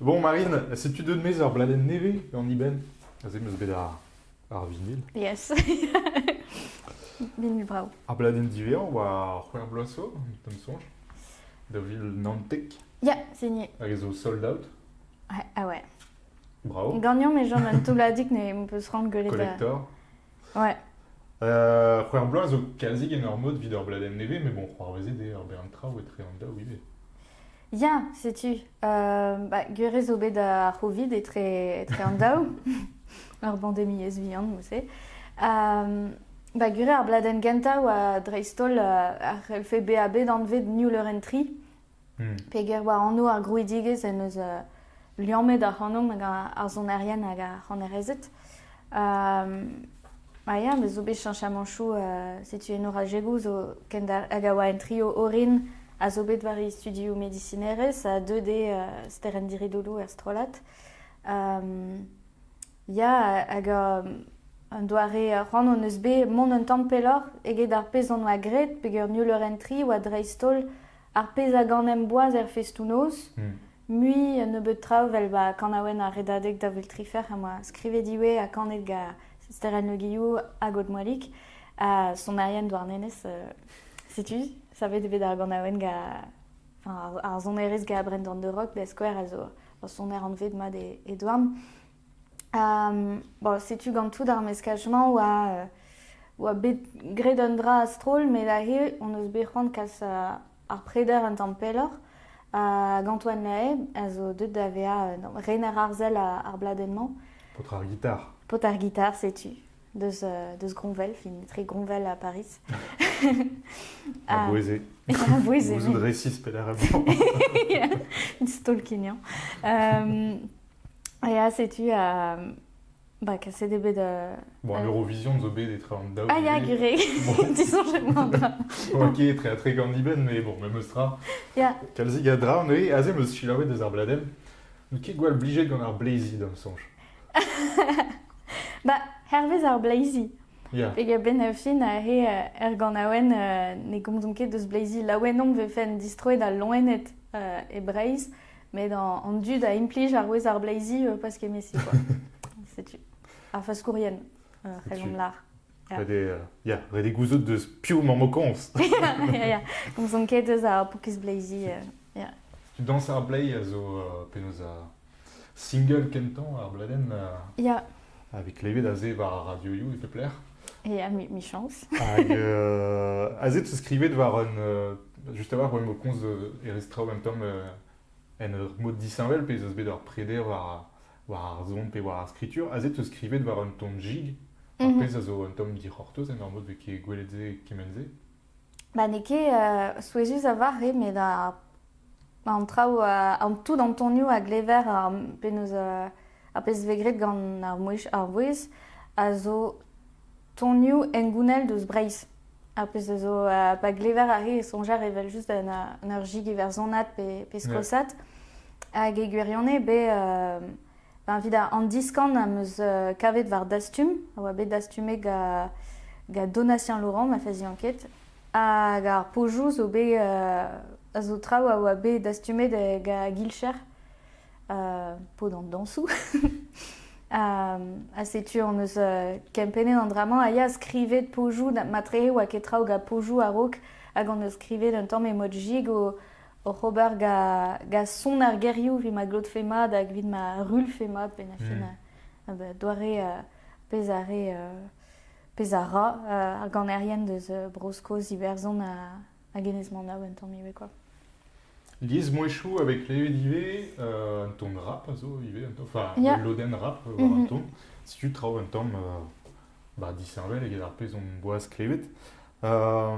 Bon, Marine, setu deut maez ur bladenn nevez gant Iben. Aze 'm eus bet ar, ar vinil. Yes. Vinil bravo. Ar bladenn diwezhañ war C'hwec'h bloaz zo, t'am sonj, de ville Nantek, Yeah, signé. hag zo sold out. Ouais, ah ouais. Bravo. Gagnant, mais genre un toulladig ne peut se rendre gueuler. Collector. Ouais. Euh, c'hwec'h bloaz zo quasi en ur mod evit ur bladenn nevez, mais bon, c'hoarvezet eo ur bern traoù etre an daou ivez. Ya, setu. Euh, bah, gwir zo bet ar Covid etre, etre an daou. ar bandemiezh vihan, mousse. Euh, ba, gwir ar bladenn gentañ oa dreist-holl euh, ar c'helfe bezañ bet anvet New Leuren 3. Peger war anv ar grouidigezh en deus liammet ac'hanomp hag ar sonerien hag ar c'hanerezed. Ma ya, me zo bet cheñchamañchoù setu eno Rajegou zo hag a oa en trio orin a zo bet war he studioù medisinerezh ha deuet eo Sterenn Diridoulou er strollad. Ya, hag un doare c'hoant hon eus bet mont un tamm pelloc'h eget ar pezh hon oa graet peger Nul Eur en Tri oa dreist-holl ar pezh a ganemp boaz er festoù-noz. Mui nebeut traoù, vel ba kanaouenn ar Redadeg da vil tri c'hwec'h em boa skrivet iwe ha kanet gant Sterenn Le Guillou hag Aude Moilig, ha sonerien Douarnenez, setu, savet eo bet ar ganaouenn gant ar sonerez gant Brendan de Rock da skouer, a zo ur soner anvet mat e Douarn. Bon, setu gantout ar meskaj-mañ oa, oa bet graet un dra a-stroll met aze hon eus bet c'hoant kas ar preder un tamm pelloc'h. Hag Antoine Lahaye a zo deuet da vezañ rener arzel ar bladenn-mañ. Paotr ar gitar. Paotr ar gitar, setu. Deus, deus Groñvel, fin etre Groñvel ha Paris. A bouezé. A bouezé. Gouzout resis pelec'h emañ. Stolkiniañ. Ya, setu, euh, bah, kaset eo bet... euh, Bon, euh, l'Eurovision zo bet etre an daou. Ah ya, goude. Gureg, Bon. tu songes moi encore. Ok, etre, etre Gandiben, mais bon, même stra. Ya, Kalzik a dra, neuze, aze meus selaouet eus ar bladenn. N'out ket gwall blijet gant ar Blazy, d'am sonj. bah, hervez ar Blazy. Ya, Peg ben a fin ahe euh, er ganaouen euh, ne gomzomp ket deus Blazy laouen omp vefe en distroet al loened euh, e Breizh, Met an dud a implij ar wezh ar bleizi pas kemesi quoi. Setu. Ar faskourien, rejont lar. Ya, ret eo gouzout deus piv emañ mokoñs. ya, komzon ket eus ar pokiz bleizi. ya. Tu dañs ar bleiz a zo penaos ar single kentañ ar bladenn? Ya, Avec klevet aze war ar radioioù e pep lec'h. Et à mi-chance. Hag euh, aze tu skrivet war un... Euh, juste avoir o komz e restra en même temps euh, en ur mod disheñvel pezh eus bet ur preder war, war ar zon pe war ar skritur. Aze tu skrivet war un ton jig, ar mhm. pezh a zo un tamm dic'hortoz en ur mod vez ket gwelet se, kement se. Ba n'eo ket souezhus a vare met an traoù, tout an tonioù a glever penaos ar pezh vez graet gant ar vouezh a zo tonioù hengounel deus Breizh. Ar pezh a zo pa glever a re e soñjer evel-just en ur jig iwerzhonat pe skosat. Hag e gwirionez beo Ben, evit an diskan am eus kavet war Dastum, a oa bet dastumet gant gant Donatien Laurent, ma fazi enquête, hag ar pojoù zo bet a zo traoù a oa bet dastumet gant Guilcher, pod an dañsoù. ha setu hon eus kempennet an dra-mañ a ya skrivet pojoù, matrehe oa ket traoù gant pojoù a-raok, hag hon eus skrivet un tamm emoji go oc'h ober ga son ar gerioù evit ma glotfe mat hag evit ma ruilhfe mat penn ha fin hmm. doare pezh a re pezh a ra ar ganerien deus Bro-Skos Iwerzhon hag Enez Manav un tamm ivez quoi. Liesmouezhioù avec levet ivez euh, un ton rap a zo ivez un ton enfin yeah. loden rap war un mhm. ton setu traoù un tamm euh, bah, disheñvel eget ar pezh on boaz klevet euh,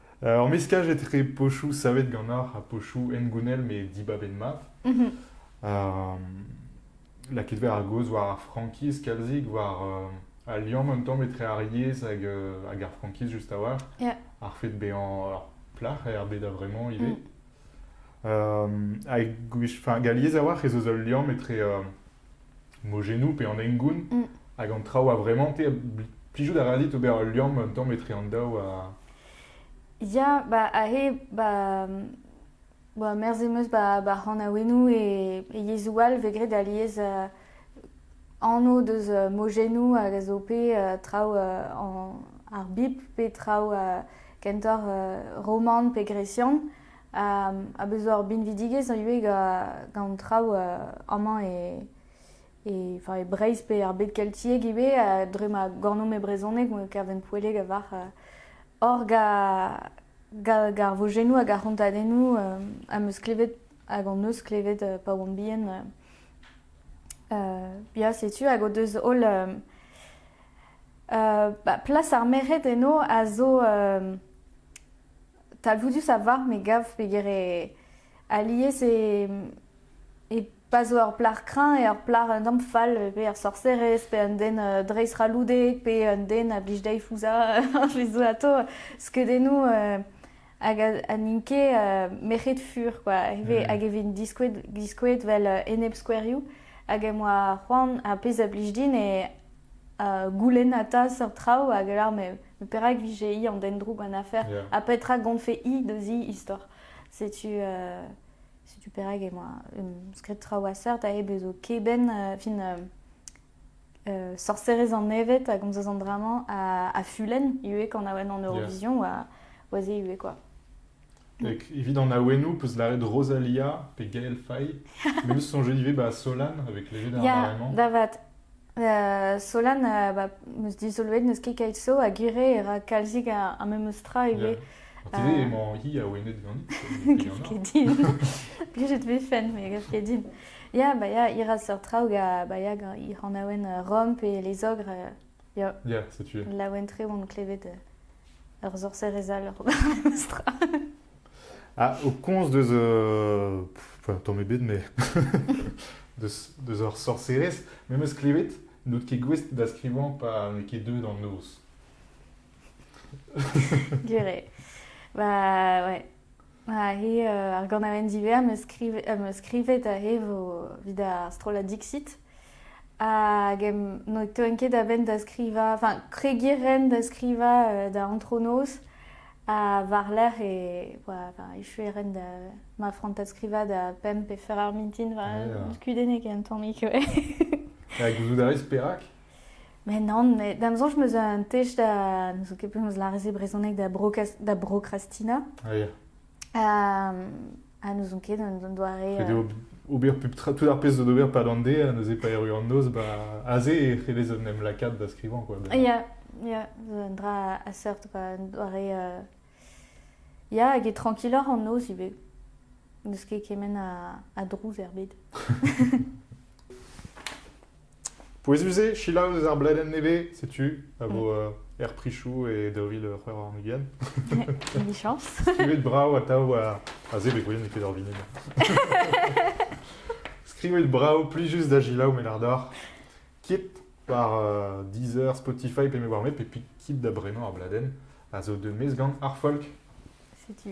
Ur meskaj etre pochoù savet ganeoc'h ha pochoù hengounel met dibab int mat. Euh, Lakaet vat ar gaoz war ar frankiz kalzik, war euh, al liamm un tamm etre ar yezh hag, euh, hag ar frankiz just a-walc'h. Yeah. Ar fait bezañ ur plac'h er bed a-vremañ ivez. Euh, hag gwech- enfin, gant yezh a-walc'h ez eus ul liamm etre euh, mojennoù pe an hengoun, hag an traoù a-vremañ-te, plijout a ra dit ober ul liamm un tamm etre an daou ha... Ya, ba aze, ba... ba merzh em eus ba ba c'hanaouennoù e e yezhoù all vez graet alies euh, anv deus euh, mojennoù hag a zo pe euh, traoù euh, an ar Bibl pe traoù euh, kentoc'h euh, roman pe gresian. a bez ur binvidigezh ivez gant an traoù amañ e e Breizh pe er bed keltiek ivez dre ma gornomp e brezhoneg kavent poelleg a varc'h hor gar vojennoù hag ar c'hontadennoù am eus klevet hag hon eus klevet pa oamp bihan ya setu hag o deus holl plas ar merc'hed eno a zo talvoudus a varv me gav pegwir eo alies e e pa zo ur plac'h kreñv eo ur plac'h un tamm fall pe ur sorserez pe un den dreist-c'halloudek pe un den a blij dezhi fouzhañ he zo atav skeudennoù hag ha n'int ket merc'hed fur kwa ivez hag e vint diskouez diskouez 'vel enepskouerioù hag em boa c'hoant ar pezh a blij din eo goulennata seurt traoù hag a lâr me perak vije-hi an den droug an afer, ha petra gonfe-hi deus he istor. Setu, euh, setu perak emañ skrid traoù a seurt a bezo keben euh, fin euh, euh, sorserez an evet a gomzas an dramañ a, a fulenn ivez kan awen an Eurovision yeah. oa, oa se ivez quoi. Evit an awenou 'peus lâret Rosalia pe Gael Faye. Me 'peus soñjet ivez ba Solan avec léger d'armament. Ya, da vat. Euh, Solan, euh, bah, 'meus dizoloet n'eus ket keit so ha gwire e ra kalzik ar ar memes tra ivez. An TV Euh, emañ hi awenet ganit. Gaf ket din. Plijet vez fenn, mais gaf ket din. Ya, bah, ya, ir a seurt traoù ga bah, ya, ga ir an awen euh, romp et les ogres, euh, ya, Yeah, setu. laouen tre oan klevet euh, Ur sorserez all, ur meustra. Ah, au conce deus... euh, pff, tamm ebet, mais... deus, deus ur sorserez, me meus klevet n'out ket gouest da skrivañ pa n'eo ket deuet an noz. Gwir eo. Ba, ouais. Ha he, euh, ar ganaouenn divers 'm eus skrivet, 'm eus skrivet aze vo evit ar strollad Dixit. Hag ne teuent ket a-benn da skrivañ, enfin kregiñ ren da skrivañ da antronoz. Ha war-lerc'h e, echu e ren da ma frantad skrivañ da pemp pe fer ar mintin, kudennig un tammig, ouais. Ha gouzout a ris perak? Mais non, mais da'm soñj 'm eus un tech da... Ne zo ket penaos lârez e brezhoneg da, da brokrastina. Ah ya. Ah, n'ouzon ket un doare... Ret eo ober pep tra, tout ar pezh zo d'ober pad an de, ha neuze pa erru an noz, bah, aze e c'hellez en em lakaat da skrivañ, quoi. Ya, yeah, yeah, zo un dra a seurt, quoi, un doare... Euh... Ya, hag e trankiloc'h an noz ivez. N'eus ket kement a, a drouz er bed. Pouezus eo selaou eus ar bladenn nevez, setu, a vo euh, er prichoù e daou vil c'hwec'h warn-ugent. Emichañs. Skrivet brav atav war... Ah se, bet gwelet n'eo ket ur vinil. Skrivet brav, plus juste da gelaou, met ardor. Kit war euh, Deezer, Spotify, pe me war met, pe quitte da brenañ ar bladenn, a zo de mes gant ar folk. Setu.